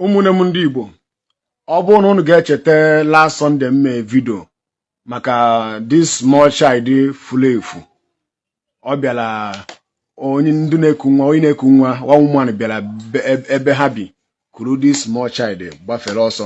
ụmụnne m ndị Igbo ọ bụrụ na unu ga-echeta last Sunday m mee vidio maka this small child furu efu ọ bịara onye ndị na-eku nwa onye na-eku nwa one woman bịara ebe ha bi kuru this small child gbafere ọsọ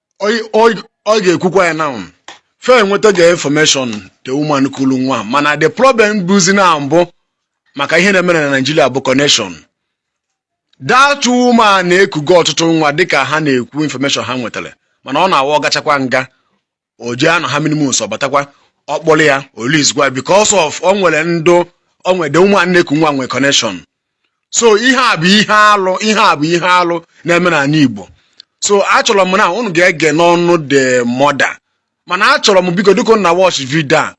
ọ ga-ekwukwa ya now fa enwetago infọmeshọn the woman kulu nwa mana the problem bụzi na mbụ maka ihe na-eme na Naịjirịa bụ connection that woman ekugo ọtụtụ nwa dịka ha na-ekwu infọmeshọn ha nwetara mana ọ na-awụ ọ gachakwa nga o jee anọ how many months ọ batakwa ọ kpọrọ ya o release kwa because of o nwere ndị o nwere the woman na-eku nwa nwe connection so ihe a bụ ihe alụ na-eme n'ala Igbo so achọrọ m na unu ga-ege n'ọnụ the mother mana achọrọ m biko dịka unu na watch video a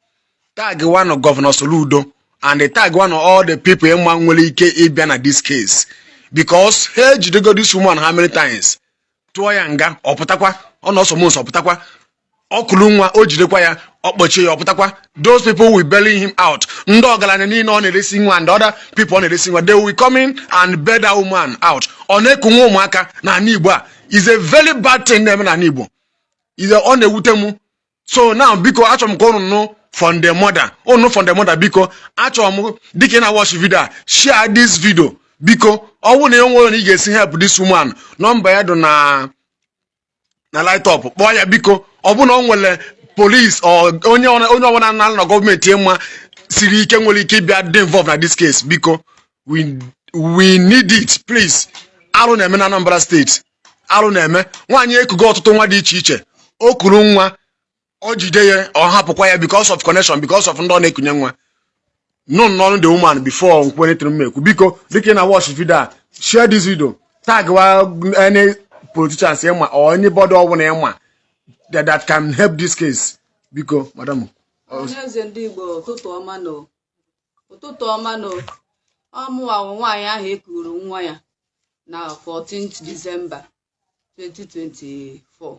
tagwanụ gọvanọ Soludo and tagwanụ all the people ị ma nwere ike ịbịa na this case because ha ejidego this woman how many times tụọ ya nga ọ pụtakwa ọ nọọ some months ọ pụtakwa o kuru nwa o jidekwa ya ọ kpọchie ya ọ pụtakwa those people will bail him out ndị ọgaranya niile ọ na-eresi nwa and other people ọ na-eresi nwa they will come in and bail that woman out ọ na-eku nwa ụmụaka na ala Igbo a is a very bad thing na-eme na ala Igbo ọ na-ewute m so now biko achọrọ m ka ụnụ nụ from the mother ụnụ from the mother biko achọrọ m dịka ị na-watch video a share this video biko ọ bụrụ na e nwere ka ị ga-esi help this woman nọmba ya dị na na write up kpọọ ya biko ọ bụrụ na o nwere polis onye ọbụla nọ na gọọmenti ị ma siri ike nwere ike ịbịa dị involve na this case biko we need it please arụ na-eme na Anambra steeti arụ na-eme nwaanyị ekugo ọtụtụ nwa dị iche iche o kuru nwa o jide ya ọ hapụkwa ya because of connection because of ndị ọ na-ekunye nwa nụnụ n'ọnụ the woman before nkwere tụrụ m ekwu biko dịka ị na watch video a share this video tagwa any politicians ị ma or anybody ọbụla ị ma that can help this case biko madam ọhaneze ndị Igbo ụtụtụ ọma nụ ọ mụwa wụ nwaanyị ahụ e kuru nwa ya na 14th December 2024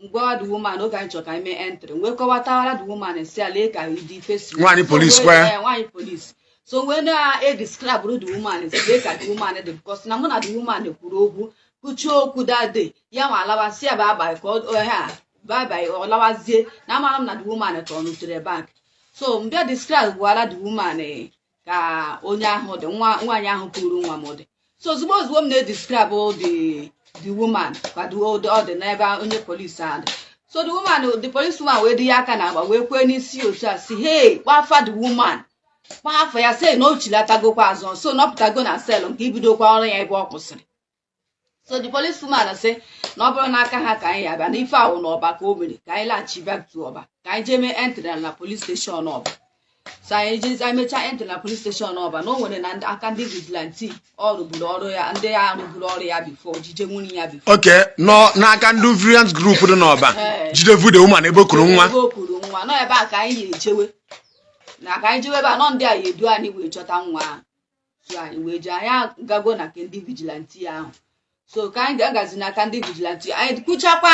m gwa the woman oge anyị chọrọ ka anyị mee entry wee kọwatara the woman sị ya lee ka ụdị face Nwaanyị So, police wee- kwee. eh, nwaanyị police so wee na-edescribe the woman sị lee ka the woman dị because na mụ na the woman kwuru okwu kwuchaa okwu that day ya wee lawa sị ya bye bye ka ọ ọ- ha bye bye ọ lawazie na amarọ m na the woman turnụtara back so m bịa describewara the woman eh, ka onye ahụ dị nwa nwaanyị ahụ kuru nwa m dị so ozugbo ozugbo m na-edescribe the the woman ka the old ọ dị n'ebe onye polisi ahụ dị so the woman the police woman wee tinye aka n'agba wee kwee n'isi otu a sị hey kpọọ afa the woman kpọọ afa ya sị na o chighatagokwa azụ sị na ọ pụtago na cell nke ibidokwa ọrụ ya ebe ọ kwụsịrị so the police woman sị na ọ bụrọ n'aka ha ka anyị abịa na ife ahụ na ọba ka o mere ka anyị laghachi back to ọba ka anyị jee mee entry na police station ọba so anyị jezi anyị mechaa entry na police station ọba na o nwere na ndị- aka ndị vigilante ọ rụburu ọrụ ya ndị ya rụburu ọrụ ya before jije nwaanyị a before okay nọ n'aka ndị vigilante group dị n'ọba Ee. jidebu the woman ebe o kuru nwa ebe o kuru nwa nọ ebe a ka anyị ya-ejewe na ka anyị jewe ebe a nọ ndị a ya edu anyị wee chọta nwa ahụ so anyị wee jee anyị agago na nke ndị vigilante ahụ so ka anyị ga-agazi n'aka ndị vigilante anyị kwuchakwa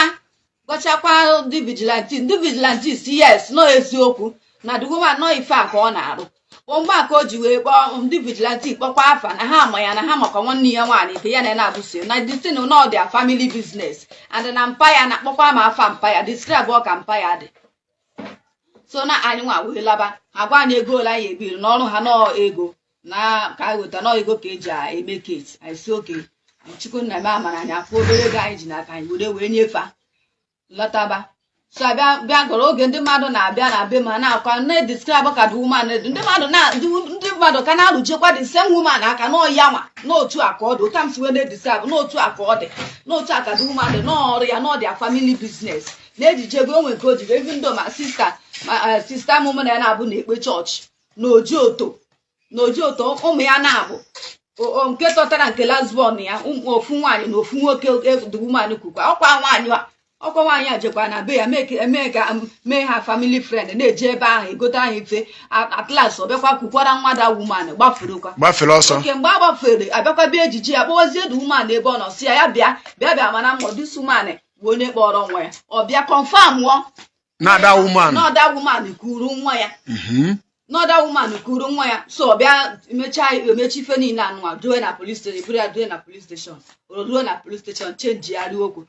gwachakwa ndị vigilante ndị vigilante sị yes nọ eziokwu na the woman nọ ife a ka ọ na-arụ bụ mgbe a ka o ji wee kpọọ ndị vigilante kpọkwa afa na ha ama ya na ha makwa nwanne ya nwaanyị nke ya na ya na-abụso na the thing na ọ their family business and na mpa ya na-akpọkwa ma afa mpa ya describe ọ ka mpa ya dị so na anyị nwa wee laba agwa anyị ego ole anyị ebiri n'ọrụ ha nọọ ego na ka anyị weta nọọ ego ka e ji eme case anyị sị okay anyị chukwu nna mee amara anyị afụ obere ego anyị ji n'aka anyị were wee nyefe lọtaba so abịa bịa gụrụ oge ndị mmadụ na-abịa na be ma na-akwa na-edescribe ka the woman dị ndị mmadụ na ndị ndị mmadụ ka na-arụjekwa the same woman aka na ọ ya nwa n'otu a ka ọ dị otu m si wee na-edescribe n'otu a ka ọ dị n'otu a ka the woman dị n'ọrụ ya na ọ their family business na ejijego o nwere nke o jiri even though my sister my eh, sister m mụ na ya na-abụ na-ekpe church na Ojoto na Ojoto ụmụ ya naabọ o nke tọtara nke last born ya ụmụ ofu nwaanyị na ofu nwoke the woman kukwa ọkwa nwaanyị a ọkwa nwaanyị a jekwa na be ya mee ka- mee ka mee ha family friend na-eje ebe ahụ egote ahụ ife at- at last ọ bịakwa kukwara nwa the woman gbafurukwa gbafere ọsọ okay mgbe a gbafere abịakwa bịa ejije ya kpọwazie the woman ebe ọ nọ sị ya ya bịa bịa bịa mara ma ọ this woman bụ onye kpọrọ nwa ya ọ bịa confirm ọ na ọ the woman na ọ the woman kuru nwa ya Mhm. na ọ the woman kuru nwa ya so ọ bịa emechaa emechi ife niile anụ a due na police station buru ya due na police station o ruo na police station chenjigharị okwu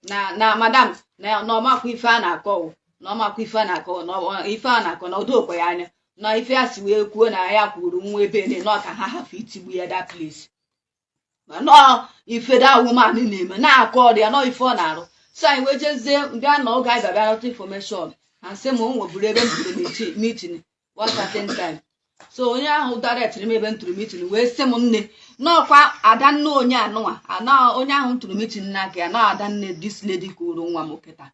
na na madam na na ọ makwa ife a na-akọ o, na ọ makwa ife a na-akọ na ọ- ife a na-akọ na o dokwe ya anya na ife a si wee kwuo na ya kuru nwa ebe ne na ọ ka ha hafụ itigbu ya that place na ọ ife the woman na-eme na aka ọrụ ya na ọ ife ọ na-arụ so anyị wee jezie bịa na oge anyị bịa bịa nụta information a sị m o nweburu ebe m tụrụ meeting meeting one certain time so onye ahụ directịrị m ebe m tụrụ meeting wee sị m nne na ọ kwa adanne onye anụnwa ana onye ahụ m tụrụ meeting n'aka ya na adanne this lady kuru nwa m kịta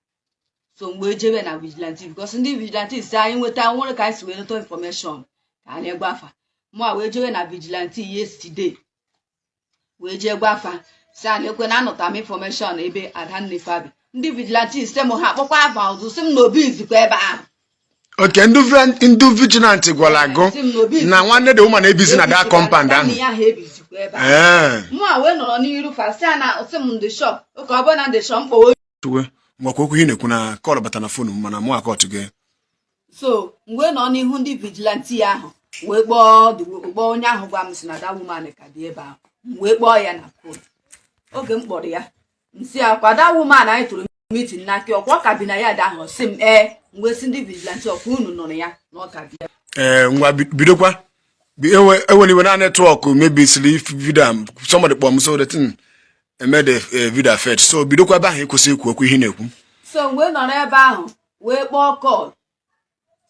so m wee jebe na vigilante because ndị vigilante si anyị nweta nwere ka anyị si wee nụta information ka anyị gwa fa mụwa wee jebe na vigilante yesterday wee jee gwa fa sị ya nekwa na anụta m information ebe adanne fa bi ndị vigilante si m ha kpọkwa afa ọzọ si m na o bizikwa ebe ahụ okay ndị vi- ndị vigilante gwara gị si m na obi na nwanne the woman ebizi na that compound ahụ ya ha ebizikwa ebe ahụ ee mụwa wee nọrọ n'iru fa si a na si m the shop okay ọ bụ na the shop m kpọwa tuwe ngwakwa okwu ihe na-ekwu na call bata na phone m mana mụ akọtụ gị so m wee nọ n'ihu ndị vigilante ahụ wee kpọọ the wo- kpọọ onye ahụ gwa m si na that woman ka bi ebe ahụ m wee kpọọ ya na phone oge m kpọrọ ya m si ya ọkwa that woman anyị tụrụ meeting n'aka ọkwa ọ ka bi na yard ahụ ọ sị m ee m wee si ndị vigilante ọkwa unu nụrụ ya na ọ ka bi ya ee ngwa bi- bidokwa Bi- ewe- ewere iwe na network mebisiri video a somebody kpọọ m so the thing eme the eh, video affect so bidokwa ebe ahụ ị kwụsị ikwu okwu ihe na-ekwu so m wee nọrọ ebe ahụ wee kpọọ call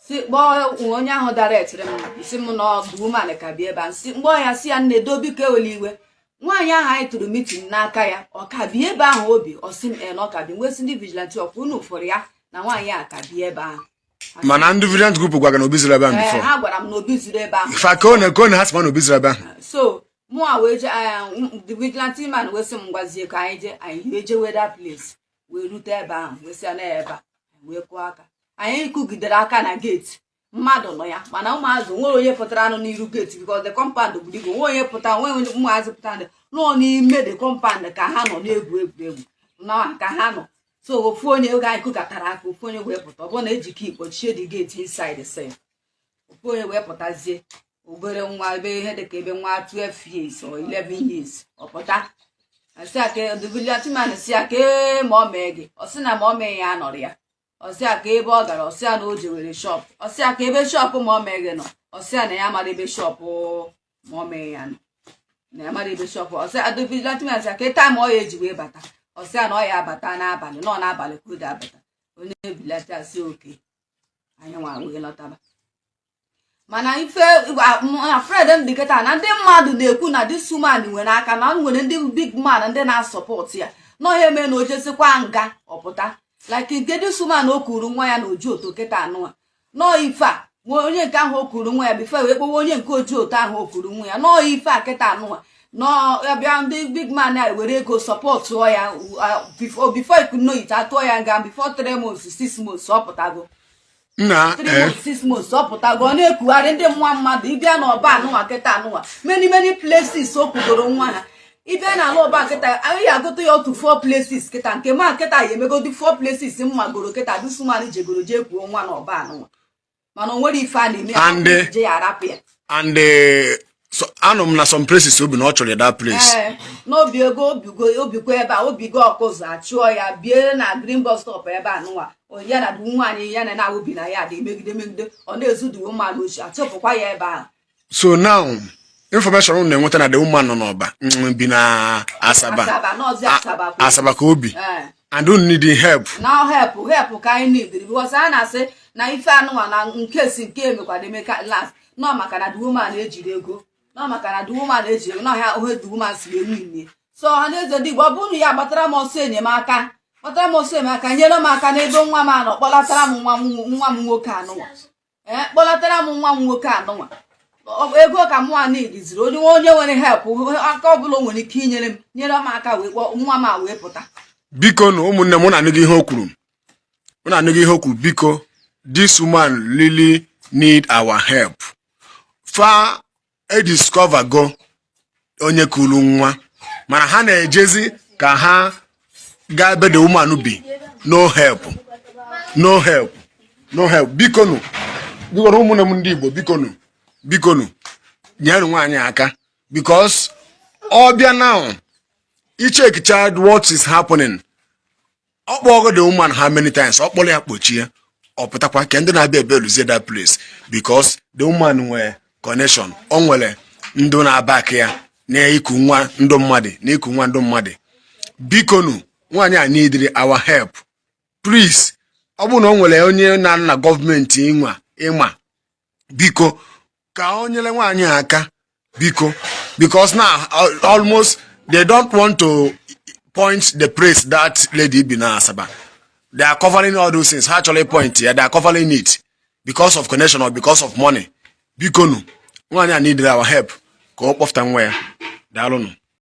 si kpọọ onye ahụ directiri m si m na the woman ka bi ebe a m si m kpọọ ya si ya nne doo biko ewela iwe nwaanyị ahụ anyị tụrụ meeting n'aka ya ọ ka bi ebe ahụ o bi ọ sị m e na ọ ka bi ya m wee sị ndị vigilante ọkwa unu fụrụ ya na nwaanyị a ka bi ebe ahụ mana ndị vigilante group gwara gị na o bizirọ ebe ahụ before ha gwara m na o bizirọ ebe ahụ fa ka ọ na-ekwe na ha sị m na o bizirọ ebe ahụ so mụa wee je the vigilante man wee sị m ngwazie ka anyị jee anyị wee jee wee that place wee rute ebe ahụ wee sị na ebe a wee kụọ aka anyị kụgidere aka na gate mmadụ nọ ya mana ụmụazị nwerọ onye pụtara a nọ n'iru gate because the compound buru ibu nwe onye pụtara nwe onye ụmụazị pụtara ndị nọ n'ime the compound ka ha nọ na-egwu egwuregwu na ka ha nọ so ofu onye oge anyị kụkatara aka ofu onye wee pụta ọ bụrụ na eji key kpochie the gate inside sef ofu onye wee pụtazie obere nwa ebe ihe dịka ebe nwa 12 years or 11 years ọ pụta a sị ya ka the vigilante man sị ya kee mummy gị ọ sị na mummy ya anọrọ ya ọ sị ya kee ebe ọ gara ọ sị ya na o jewere shop ọ sị ya kee ebe shop mummy gị nọ ọ sị ya na ya amarọ ebe shop mummy ya nọ na ya amarọ ebe shop ọ sị the vigilante man sị ya kee time ọ ya eji wee bata ọ sị ya na ọ ya abata n'abalị na ọ n'abalị ka o ji abata onye vigilante sị okay anyị nwa wee lọtaba mana ife na-afraid m dị kịta na ndị mmadụ na-ekwu na this woman nwere aka na nwere ndị big man ndị na-asupport ya na ọ ya eme na o jesikwa nga ọ pụta like nke this woman o kuru nwa ya na Ojoto kịta nụwa na ọ ife a nwa onye nke ahụ o kuru nwa ya before wee kpọwa onye nke Ojoto ahụ o kuru nwa ya na ọ ife a kịta nụwa n'ọbịa ndị big man a were ego supportuo ya before before you know it a tụọ ya nga before three months six months ọ pụtago na eh. six months ọ pụtago ọ na-ekugharị ndị nwa mmadụ ịbịa n'Ọba anụnwa kịta anụnwa many many places o kugoro nwa ha ịbịa na ala Ọba kịta anyị agụta ya otu four places kịta nke m ma kịta ya emegodi four places m magoro kịta this woman jegoro jee kuo nwa na Ọba anụnwa mana o nwere ife a na-eme ya e jie ya a rapụ ya and eh, so- anụ m na some places o bi na a chụrụ ya that place Ee, na o bigo o bigo o bikwa ebe a o bigo Ọkụzụ a chụọ ya bie na green bus stop ebe anụwa O- ya na ndị nwaanyị ya na ha bi na yard megide megide ọ na-ezu ndị mmadụ oshi a chụpụkwa ya ebe ahụ so now information unu na-enweta na the woman nọ n'Ọba mm, bi na Asaba Asaba ka o bi Eh. and unu need help na help help ka anyị need because a na-asị na ife anụnwa na nke si nke emekwara eme ka last na ọ maka na the woman ejirọ ego na ọ maka na the woman ejirọ ego n'ọhịa ohe the woman si enwe nne so ọha na eze ndị Igbo ọ bụrụ na ya gbatara m ọsọ enyemaka gbatara m ọsọ enyemaka nyere m aka n'ebe nwa m a nọ kpọlatara m nwa m nwa m nwoke anụnwa ee eh, kpọlatara m nwa m nwoke anụnwa ego ka mụnwa needịzịrị onye onye nwere help aka ọbụla o nwere ike inyere m nyere m aka wee kpọọ nwa m a wee pụta bikonu ụmụnne m unu anụgo ihe o kwuru unu anụgo ihe o kwuru biko this woman really need our help fa a discovergo onye kuru nwa mana ha na-ejezi ka ha gaa ebe the woman bi no help no help no help bikonu bikonu ụmụnne m ndị Igbo bikonu bikonu nyere nwaanyị aka because ọ bịa now i checkicha what is happening ọ kpọgo the woman how many times ọ kpọrọ ya kpọchie ọ pụtakwa ka ndị na-abịa ebe eluzie that place because the woman nwere connection o nwere ndị na-aback ya na iku nwa ndụ mmadụ na iku nwa ndụ mmadụ bikonu nwaanyị a needịrị our help please ọ bụrụ na o nwere onye nọ na gọọmenti ịnwa ị ma biko ka o nyere nwaanyị aka biko because na almost they don't want to point the place that lady bi na Asaba they are covering all those things ha achọrọ ịpoint ya they are covering it because of connection or because of money biko nu nwaanyị a need our help ka ọ kpọfụta nwa ya daalụnụ